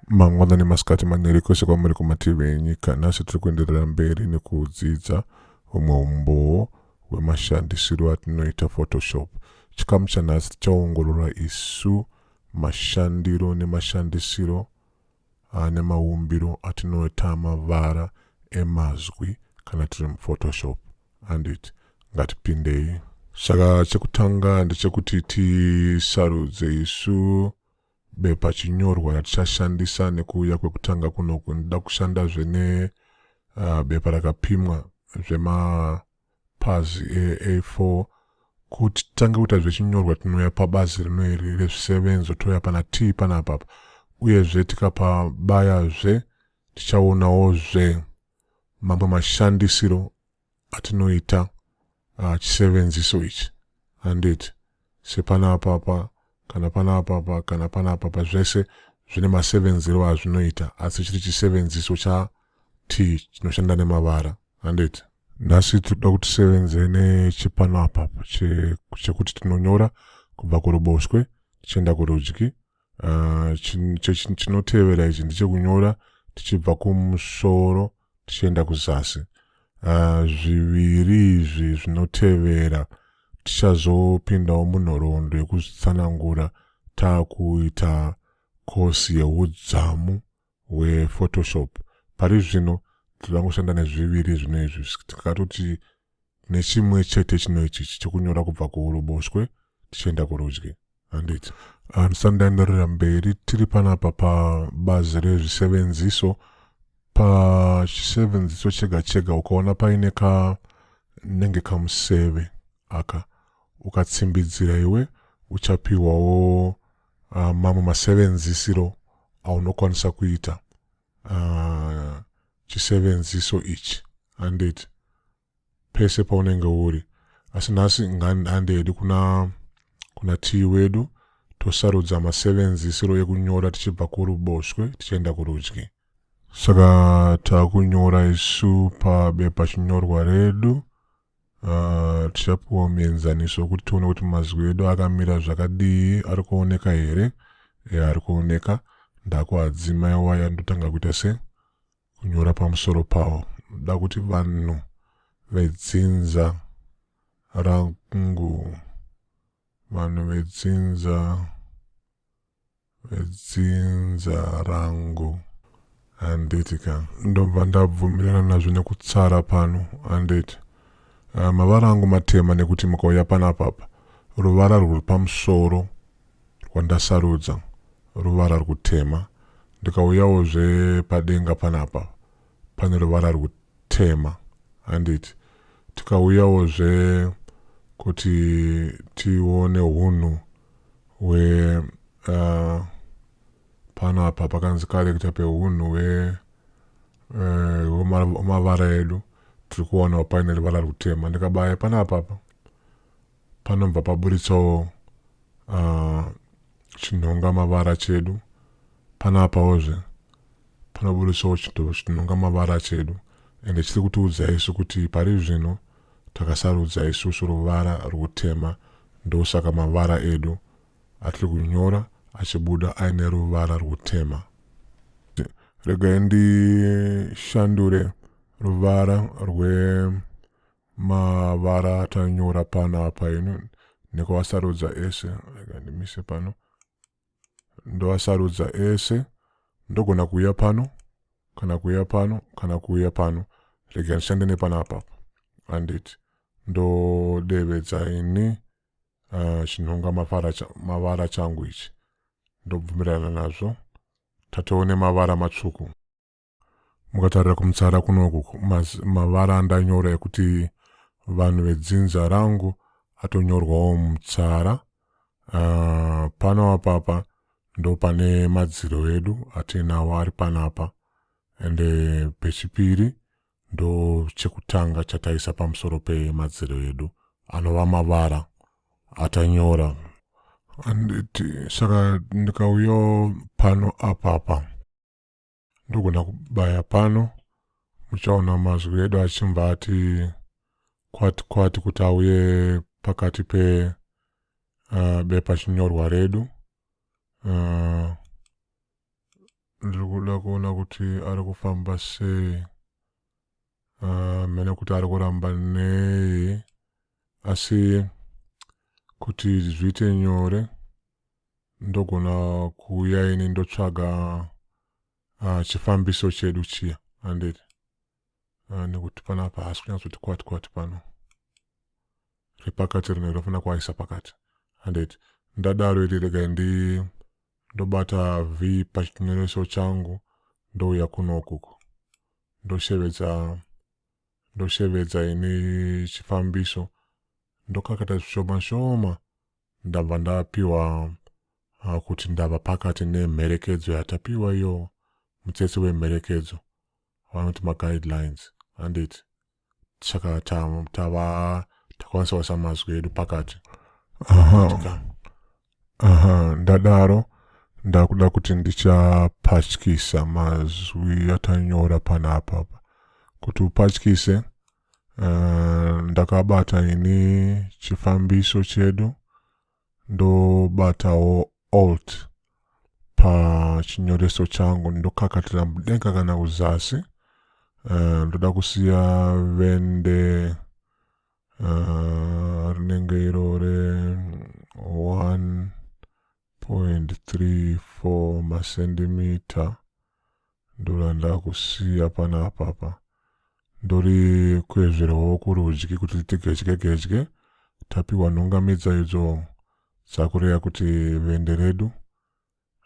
mangwanani masikati maneri kwese kwamuri kumativi enyika nhasi tiri kuenderera mberi nekudzidza humwe umbowo hwemashandisiro atinoita photoshop chikamu chanhasi tichaongorora isu mashandiro nemashandisiro ane maumbiro atinoita mavara emazwi kana tiri muphotoshop handiti ngatipindei saka chekutanga ndechekuti tisarudze isu bepa chinyorwa ratichashandisa nekuuya kwekutanga kunoku ndida kushandazve ne uh, bepa rakapimwa zvema pazi A4 kuti titange kuita zvechinyorwa tinouya pabazi rino iri rezvisevenzo touya pana T panapa apa uyezve tikapabayazve tichaonawozve mamwe mashandisiro atinoita uh, chisevenziso ichi handiti sepana apapa kana pana apapa kana pana apapa zvese zvine masevenzero azvinoita asi chiri chisevenziso cha t chinoshanda nemavara handiti nhasi tinoda kuti tisevenze nechipano apa chekuti tinonyora kubva kuruboshwe tichienda kurudyi ah, chinotevera ichi ndechekunyora tichibva kumusoro tichienda kuzasi uh, zviviri izvi zvinotevera tichazopindawo munhoroondo yekuzvitsanangura taakuita kosi yeudzamu hwephotoshop pari zvino tinoda kushanda nezviviri zvino izvi tikatoti nechimwe chete chino ichichi chekunyora kubva kuuruboshwe tichienda kurudyi handiti handisati ndaenderera mberi tiri panapa pabazi rezvisevenziso pachisevenziso chega chega ukaona paine ka nenge kamuseve aka ukatsimbidzira iwe uchapiwawo uh, mamwe masevenzisiro aunokwanisa kuita uh, chisevenziso ichi handiti pese paunenge uri asi nhasi handedi kuna kuna tii wedu tosarudza masevenzisiro ekunyora tichibva kuruboshwe tichienda kurudyi saka takunyora isu pabepa chinyorwa redu Uh, tichapiwa muenzaniso wekuti tione kuti mazwi edu akamira zvakadii ari kuoneka here e, ari kuoneka ndakuadzima iwaya ndotanga kuita se kunyora pamusoro pawo da kuti vanhu vedzinza rangu vanhu vedzinza dzinza rangu handiti ka ndobva ndabvumirana nazvo nekutsara pano handiti uh, mavara angu matema nekuti mukauya panapapa ruvara rwuri pamusoro rwandasarudza ruvara rwutema ndikauyawo zvepadenga panapa pane ruvara rwutema handiti tikauyawo zve kuti tione hunhu where uh, panapa pakanzi karekta pehunhu hwemavara uh, edu tiri kuonawo paine ruvara rutema ndikabaya panapapa panobva paburitsawo uh, chinhonga mavara chedu Panaapawozve panobudiswawo chidhoo chinonga mavara chedu ende chiri kutiudza isu kuti pari zvino takasarudza isusu ruvara rwutema ndosaka mavara edu atiri kunyora achibuda aine ruvara rwutema. Regai ndishandure ruvara rwemavara atanyora panapa ino nekuasarudza ese. Regai ndimise pano. ndoasarudza ese ndogona kuuya pano kana kuuya pano kana kuuya pano rega ndishande nepana apapo anditi ndodevedza ini uh, chinhonga mavara changu ichi ndobvumirana nazvo tatoone mavara matsvuku mukatarira kumutsara kunoku mavara andanyora ekuti vanhu vedzinza rangu atonyorwawo mutsara uh, pano apapa ndo pane madziro edu atiinawo ari panapa ende pechipiri ndo chekutanga chataisa pamusoro pemadziro edu anova mavara atanyora anditi saka ndikauyo pano apapa ndogona kubaya pano muchaona mazwi edu achimva ati kwati kwati kuti auye pakati pe uh, bepa chinyorwa redu uh, ndiri kuda kuona kuti ari kufamba sei uh, mene kuti ari kuramba nei asi kuti zviite nyore ndogona kuuya ini ndotsvaga uh, chifambiso chedu chiya handiti uh, ah, nekuti panapa hasi kunyatsoti kwati kwati pano repakati rino rinofanira kuaisa pakati handiti ndadaro iri rega ndi ndobata v pachinyoreso changu ndouya kuno ukuku ndoshevedza ndoshevedza ini chifambiso ndokakata zvishoma shoma ndabva ndapiwa ah, kuti ndava pakati nemherekedzo yatapiwa iyo mutsetse wemherekedzo vanoti maguidelines handiti saka tava takwanisa kuisa mazwi edu pakati aha aha ndadaro ndakuda kuti ndichapatyisa mazwi atanyora panapa kuti upatyise uh, ndakabata ini chifambiso chedu ndobatawo alt pachinyoreso changu ndokakatira mudenga kana kuzasi uh, ndoda kusiya vende uh, rinenge iro re 1.34 masendimita ndorandakusiya pana apapa ndori kwezvirawo kurudyi kuti riti gedye gedye tapiwa nhungamidza idzo dzakureya kuti vende redu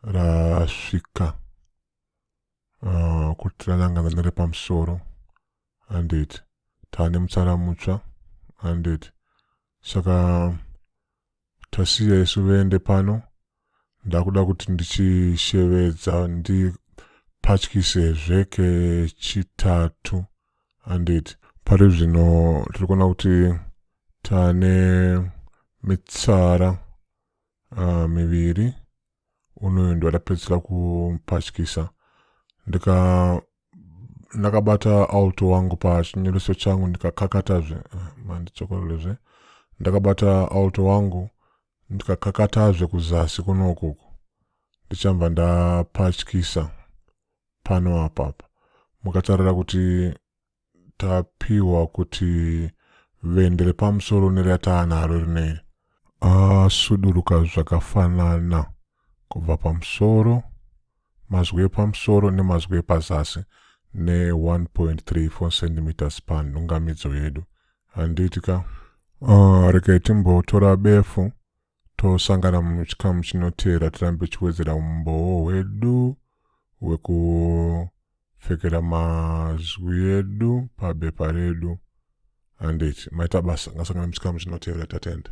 rasvika uh, kuti ranangana nerepamusoro handeti taane mutsara mutsva handeti saka tasiya isu vende pano ndakuda kuti ndichishevedza ndipatyise zvekechitatu handeti pari zvino tiri kuona kuti taane mitsara uh, miviri unoyo ndiwadapedzisa kupatyisa ndika ndakabata alto wangu pachinyoreso changu ndikakakatazve mandichokorerezve ndakabata alto wangu ndikakakatazve kuzasi kuno ukuku ndichamba ndapatyisa pano apapa mukatarira kuti tapiwa kuti vende repamusoro nerataanaro rinei asuduruka zvakafanana kubva pamusoro Mazwi epamusoro nemazwi epazasi ne 1.34 cm span nhungamidzo yedu. Handiti ka? Uh, regai timbotora befu tosangana muchikamu chinoteera tirambe tichiwedzera umbowo hwedu hwekupfekera mazwi edu pabepa redu handiti maita basa ngasangana muchikamu chinoteera tatenda